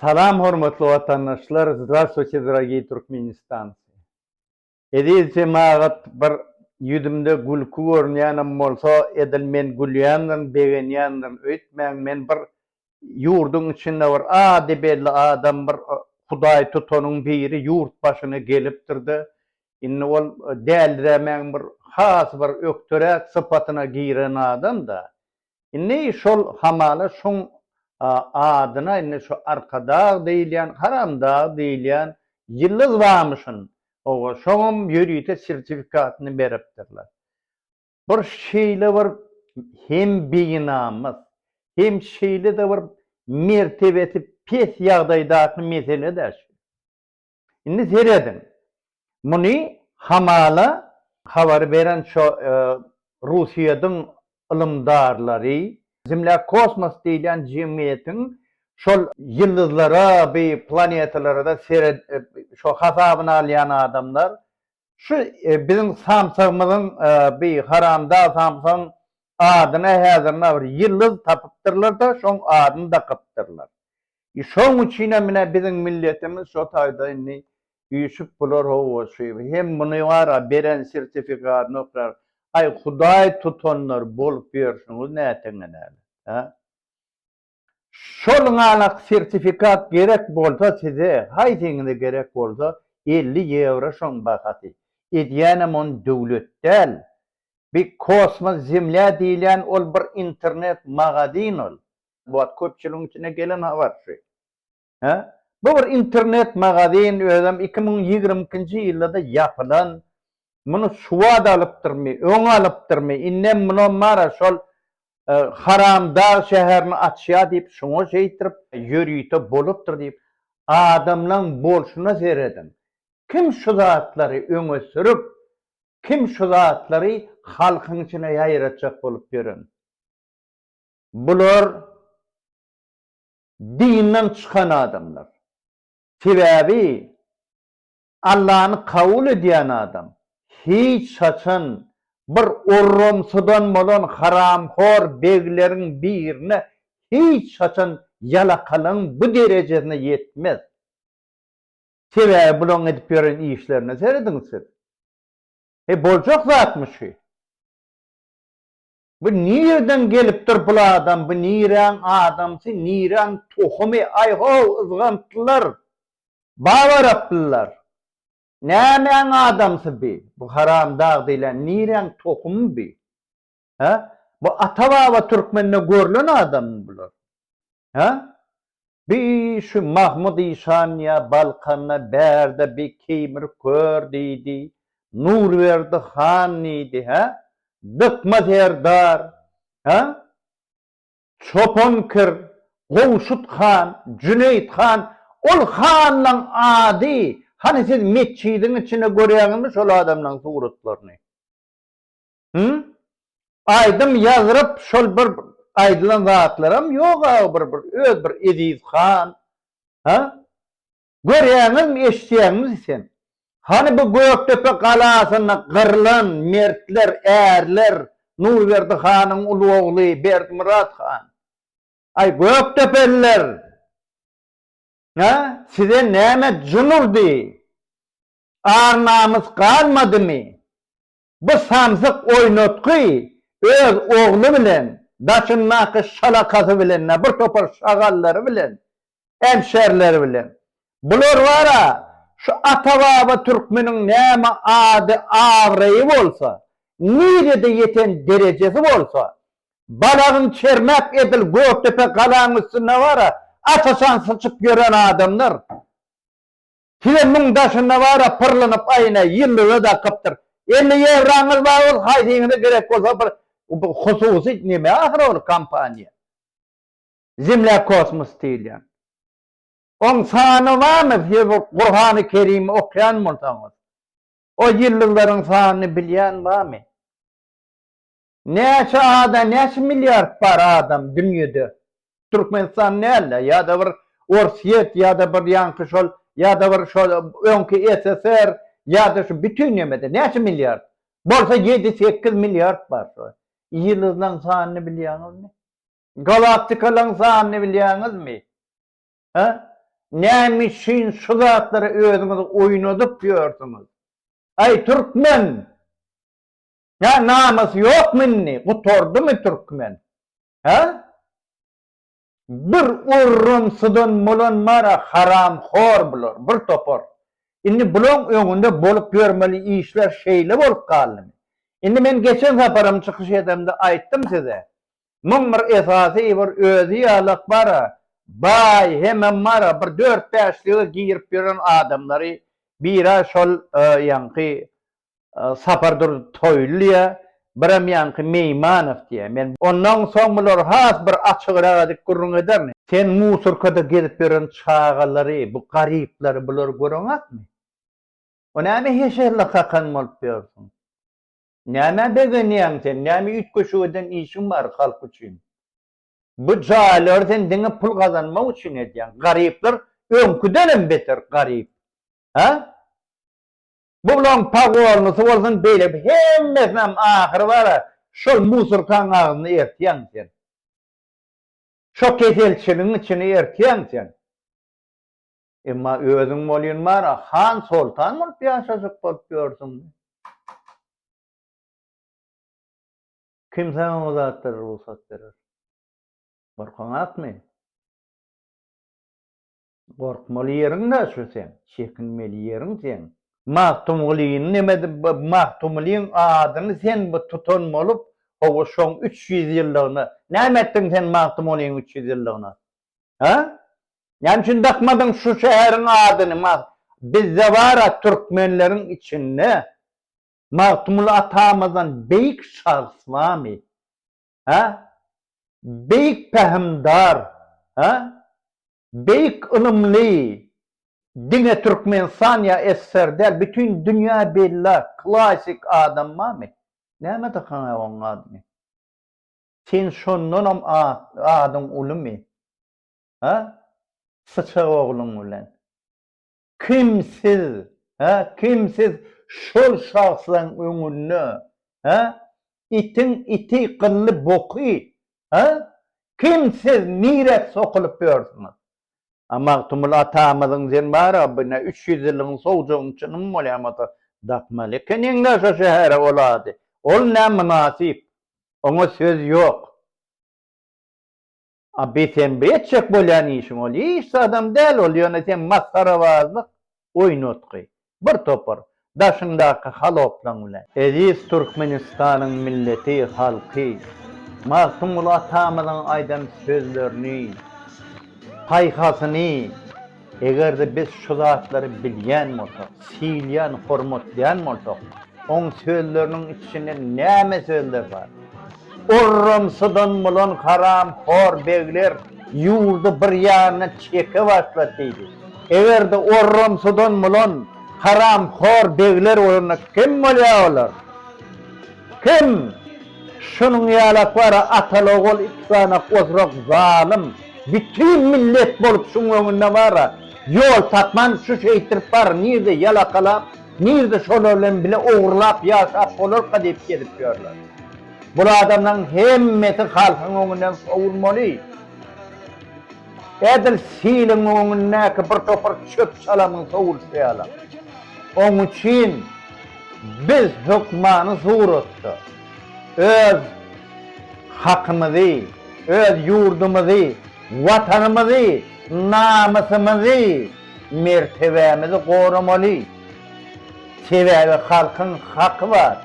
Salam hormatly watandaşlar Zdravstvuyte dragii Turkmenistanci Eziz jemagat bir ýüzümde gülki görünýänem bolsa edil men gülýändirin begenýändirin öýtmäň men bir ýurduň içinde bir ady belli adam bir hudaý tutanyň biri ýurt başyna gelipdirde indi ol däldirämäň bir has bir ökderäk sypatyna giren adamda Indi şol hamala şoň adyna indi şu Arkadag diýilýän, Haramdag diýilýän ýyldyz barmyşyn. Oba, şoňam ýörite sertifikatyny beripdirler. Bir şeýle bir hem beýnamys, hem şeýle-de bir mertebesi pes ýagdaýdaky mesele-dä şu. Indi serediň, muny hamala habar beren şo Russiýadyň ylymdarlary, Zemlýa kosmos diýilýän jemgyýetiň şol ýyldyzlara bi planetalarada seret şo hasabyna alýan adamlar, şu biziň samsygymyzyň bi haramda samsygyň adyna häzirna bir ýyldyz tapypdyrlar-da şoň adyny dakypdyrlar. Şoň üçinem ine biziň milletimiz şo taýda indi üýşüp bular hawa şu hem muny wara beren sertifikadyny oklar aý hudaý tutanlar bolup ýörşüňiz näteňelere hä şol ňalak sertifikat gerek bolsa size haýsyňyza gerek bolsa elli ýewro şoň bahasy edýänem on döwlet däl bi kosmos zemlýa diýilýän ol bir internet magazin ol Bu wagt köpçüligiň içine gelen habar şu. Hä? Bu bir internet magazin özem iki müň ýigrimi ikinji ýyldada ýapylan. Muny şu wagt alypdyrmy, öň alypdyrmy, indem munam bar-a şol Haramdag şäherini açýa diýip şoňa şeýtirip, ýörite bolupdyr diýip, adamlaň bolşuna serediň. Kim şu zatlary öňe sürüp, kim şu zatlary halkyň içine ýaýratjak bolup ýören? Bular dinden çykan adamlar. Sebäbi Allany kabul edýän adam hiç haçan bir orramsydan bolan haramhor begleriň birine hiç haçan ýalakalygyň bu derejesine ýetmez. Sebäbi bularyň edip ýören işlerine serediň siz. He boljak zatmy şu? Bu nireden gelipdir bul adam bu niräň adamsy niräň tohumy aý how yzgantlylar bab araplylar nämäň adamsy bi bu haramdag diýlen niräň tohumy bi he bu ata baba türkmende görlen adammy bular Hä? Bi şu Mahmyt işan ýa Balkanda bärde bi keýmir kör diýdi, Nurberdi han diýdi, hä? Dykma serdar, hä? Çopan kir, Gowşut han, Jüneýit han, ol hanlaň ady, hany siz metjidiň içinde görýäňizmi şol adamlaň suratlaryny? Hımm? Aýdym ýazryp şol bir aýdylan zatlaram ýok aga bir bir öz bir Eziz han ha görýäňizmi eşitýäňizmi sen hany bu Gökdepe galasynda gyrlan mertler ärler Nurberdi hanyň uly ogly Berdimyrat han aý Gökdepeliler ha size näme jyn urdy ar namys galmadymy Bu samsyk oýnatgy öz ogly bilen, daşyndaky şalakasy bilen-de, bir topar şagallary bilen, emşerleri bilen. Bular bar-a, şu ata-baba türkmeniň näme ady-abraýy bolsa, nirede ýeten derejesi bolsa, balagyň çermäp edil Gökdepe galaň üstünde bar-a, asasan syçyp ýören adamlar. Size müň daşynda bar-a pyrlynyp aýna, ýyldyza dakypdyr. Elli ýewraňyz bar bolsa haýsyňyza gerek bolsa bir hususy neme ahyry ol kompaniýa. Zemlýakosmos diýilýän. Oň sany barmy siz bu Gurhany Kerimi okýan bolsaňyz. O ýyldyzlaryň sanyny bilýän barmy? Näçe ada näçe milliard bar adam dünýede Türkmenistan dälde ýada bir Orsýet ýada bir ýaňky şol ýada bir şol öňki SSR ýada şu bütin nemede näçe milliard bolsa ýedi sekiz milliard bar şu ýyldyzlaň sanyny bilýäňizmi galaktikalyň sanyny bilýäňizmi he näme üçin şu zatlary özüňiz oýnadyp ýörsüňiz aý türkmen Ýa namys ýokmy indi gutardymy türkmen hä? Bir orramsydan bolan bara haramhor bular bir topar. Indi bulaň öňünde bolup ýörmeli işler şeýle bolup galdymy? Indi men geçen saparam çykyş edemde aýtdym size. Muň bir esasy bir özi ýalak bara baý hemem bara bir dört bäşlige girip ýören adamlary bira şol ýaňky Sapardurdy Toýly diýýär, birem ýaňky Meýmanow diýýär. Men ondan soň bulary has bir açygrak edip gürrüň ederin. Sen musorkada gezip ýören çagalary, bu garyplary bulary göreňokmy? O näme heşerli kakan bolup ýörsüň? Nämä begenýäň sen? Näme üýtgeşik eden işiň bar halk üçin? Bu jaýlary sen diňe pul gazanmak üçin edýäň. Garyplar öňküdenem beter garyp. Hä? Bu bilen pogornysy bolsun beýle bir hemmesinem ahyry bara şol musurkaň agzyny ertýäň sen. Şo keselçiligiň içini ertýäň sen. Emma özüň bolýun bara han soltan bolup ýaşajak bolup ýörsüň. Kim saňa o zatlara rugsat berer? Gorkaňakmy? Gorkmaly ýeriň naçe seň, çekinmeli ýeriň seň. Magtymgulyny neme Magtymgulyň adyny sen bu tutan bolup hawa şoň üç ýüz ýyllygyna näme etdiň sen Magtymgulyň üç ýüz ýyllygyna ha näme üçin dakmadyň şu şäheriň adyny bizde bara türkmenleriň içinde Magtymguly atamyzdan beýik şahs barmy ha beýik pähimdar ha Beýik ylymly diňe Türkmenistan ýa SSR däl bütin dünýä bella klasik adam bamy? Näme dykanyň oň adyny? Sen şondanam adyň ulymy? Ha? Syçak ogluň bilen. Kim siz, hä, kim siz şol şahslaň öňünde, hä? Itiň iti gylly boky, hä? Kim siz, nirä sokulyp ýörsüňiz? A Magtymguly atamyzyň sen bar-a, bu ne üç ýüz ýyllygyň sowjagyny çynym bolýamasa dakmaly ekeniň-dä şo şähere ol ady. Ol nä mynasyp. Oňa söz ýok. A bisenbi etjek bolýan işiň ol hiç zadam däl ol ýöne seň masgarabazlyk oýnatgy bir topar daşyňdaky haloplaň bilen. Eziz Türkmenistanyň milleti halky Magtymguly atamyzyň aýdan sözlerini paýhasyny. Eger-de biz şu zatlary bilýän bolsak, syýylýan, hormatlaýan bolsak, oň sözleriniň içinde näme sözler bar? Orramsydan bolan haramhor begler ýurdy bir ýanyna çeke başlady diýdi. Eger-de orramsydan bolan haramhor begler bolanda kim bolýar olar? Kim? Şunuň ýalak bar-a, atal-ogul iki sany ozrak zalym. Bütin millet bolup şuň öňünde bara ýol tapman şu şeýtirip bar nirde ýalakalap nirde şolar bilen bile ogrulap ýaşap bolarka diýip gezip ýörler. Bul adamlaryň hemmesi halkyň öňünden sowulmaly. Edil siliň öňündäki bir topar çöp çalamyň sowulşy ýalam. Oň üçin biz hökmany suratda. Öz hakymyzy, öz ýurdumyzy, Watanymyzy, namysymyzy, mertebämizi goramaly. Sebäbi halkyň haky bar.